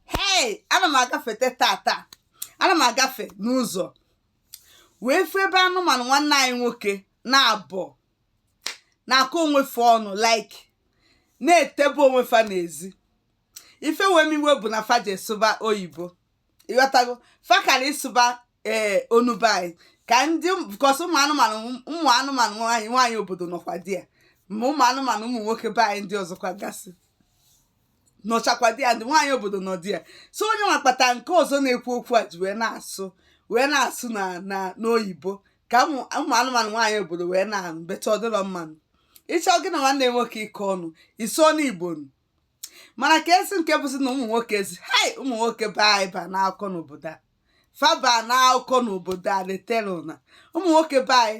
hei ana m agafete tata ana m agafe n'ụzọ wee fụ ebe anụmanụ nwanne anyị nwoke naabọ na-akọ onwe fa ọnụ like na-etebe onwe fa n'ezi ife wee m iwe bụ na fa je sụba oyibo ịghọtago fa kara ịsụba ee onu be anyị ka ndị because ụmụ anụmanụ ụmụ anụmanụ nwaanyị nwaanyị obodo nọkwa there ma ụmụ anụmanụ ụmụ nwoke be anyị ndị ọzọkwa gasị nọchakwa there ndị nwaanyị obodo nọ there so onye nwa kpata nke ọzọ na-ekwu okwu a ji wee na-asụ wee na-asụ na na n'oyibo ka ụmụ ụmụ anụmanụ nwaanyị obodo wee na-anụ better ọ dịrọ mma nụ ị chọọ gị na nwanne nwoke ịkọ ọnụ ị sụọ n'igbo nụ mana kezi nke bụzi na ụmụ nwoke si hai ụmụ nwoke be anyị ba n'akụkọ n'obodo a fa ba n'akụkọ n'obodo a detela ụna ụmụ nwoke be anyị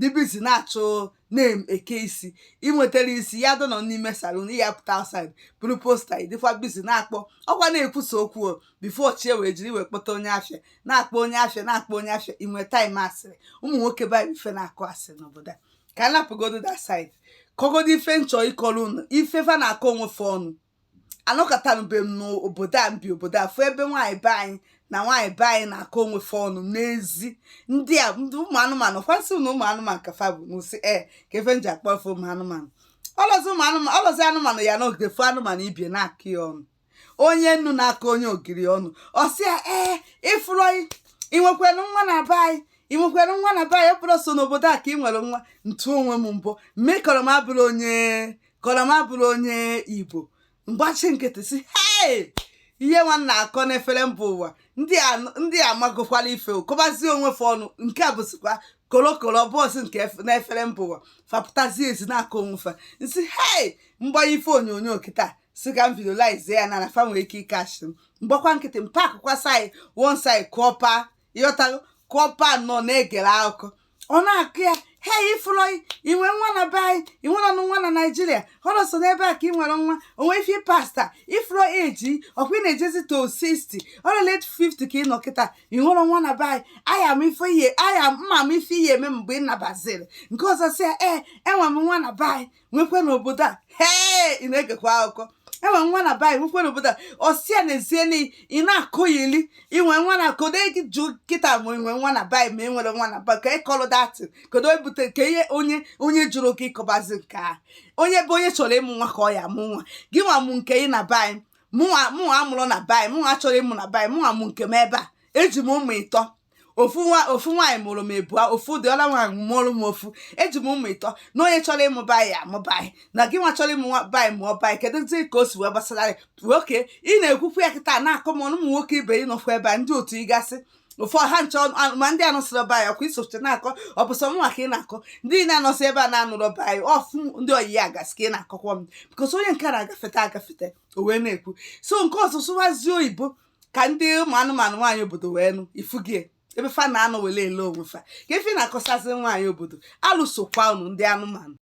dị busy na-achọ na-eke isi ị nwetara isi ya dọnọ n'ime salon ya pụta outside buru poster ị dịkwa busy na-akpọ ọkwa na-ekwusa okwu o before chi wee jiri ị wee kpọta onye afịa na-akpọ onye afịa na-akpọ onye afịa ị nwee time asịrị ụmụ nwoke banyere ife na-akọ asịrị n'obodo a ka m napụgodo that side kọgodo ife m chọ ịkọrọ unu ife fa na-akọ onwe fa ọnụ anọkatanube m n'obodo a m bi obodo a fụ ebe nwaanyị be anyị na nwaanyị be anyị na-akọ onwe fa ọnụ n'ezi ndị a ndị ụmụ anụmanụ kwasị na ụmụ anụmanụ ka fa bụ n'ụsị e ka ife m ji akpọ fa ụmụ anụmanụ ọlọzi ụmụ anụmanụ ọlọzi anụmanụ ya nọgide fụ anụmanụ ibie na-akọ ya ọnụ onye nnu na-akọ onye ogiri ọnụ ọ sị ya ee ịfụrọ inwekwerọ nwa na be anyị inwekwerọ nwa na be anyị ọ bụrụ so n'obodo a ka ị nwere nwa m tụọ onwe m mbọ m mee kọrọ m abụrọ onye kọlọ m abụrọ onye igbo m gbachi nkịtị si hei ihe nwa na-akọ n'ifere mba ụwa ndị a magokwala ife kọbazie onwe fa ọnụ nke a bụzikwa kolokolo bọọsụ nke n'ifere mba ụwa fapụtazie ezi na-akọ onwe fa m si hei m gbanye ife onyonyo kịta si ka m videolize ya na na fa nwere ike ịcatch m m gbakwa nkịtị m pakụkwa side one side kọpa ịghọtago kọpa nọ na-egere akụkọ ọ na-akọ ya he ifụlọ inwe nwa na be anyị inwerọnụ nwa na naijiria ọrụ so n'ebe a ka ị nwere nwa o nwe ife pasta ifụlọ age ọkwa ị na-ejezi to 60 or late 50 ka ị nọ kịta inwerọ nwa na be anyị aya m ife ị ya aya m ama ife ị ya-eme mgbe ị nabaziri nke ọzọ sị ya ee enwe m nwa na be anyị nwekwe n'obodo a hee ị na-egekwa akụkọ enwe m nwa na be anyị nwekwe n'obodo a ọ sị ya n'ezie na ị na-akọyili inwe nwa na kodo gị jụ kịta ma inwe nwa na be anyị ma inwerọ nwa na be anyị ka ịkọlụ that kodo ebute ka ihe onye onye jụrụ gị ịkọbazi nke a onye bụ onye chọrọ ịmụ nwa ka ọ ya-amụ nwa gị nwa mụ nke ị na be anyị mụnwa mụnwa amụrọ na be anyị mụnwa achọrọ ịmụ na be anyị mụnwa mụ nke m ebe a eji m ụmụ ịtọ ofu nwa ofu nwaanyị mụrụ m ịbụa ofu the other nwaanyị mụrụ m ofu eji m ụmụ ịtọ na onye chọrọ ịmụ be anyị amụ be anyị na gị nwa chọrọ ịmụ be anyị mụọ be anyị keduzi ka o si wee gbasara gị nwoke ị na-ekwukwu ya kịta na-akọ m ụmụ nwoke ibe ị nọkwa ebe a ndị otu ị gasị ụfọdụ ha nchọ ma ndị anọsịrị ọba ya kwa isoche na-akọ ọ bụ sọ mụnwa ka ị na-akọ ndị na-anọsị ebe a na-anụrụ ọba ya ọ fụ ndị ọyị ya gasị ka ị na-akọkwa m because onye nke na-agafeta agafeta o wee na-ekwu so nke ọ sụ sụwazie oyibo ka ndị ụmụ anụmanụ nwaanyị obodo wee nụ ifugie ebe fa na-anọ wele ele onwe fa ka efi na-akọsazi nwaanyị obodo alụ sokwa unu ndị anụmanụ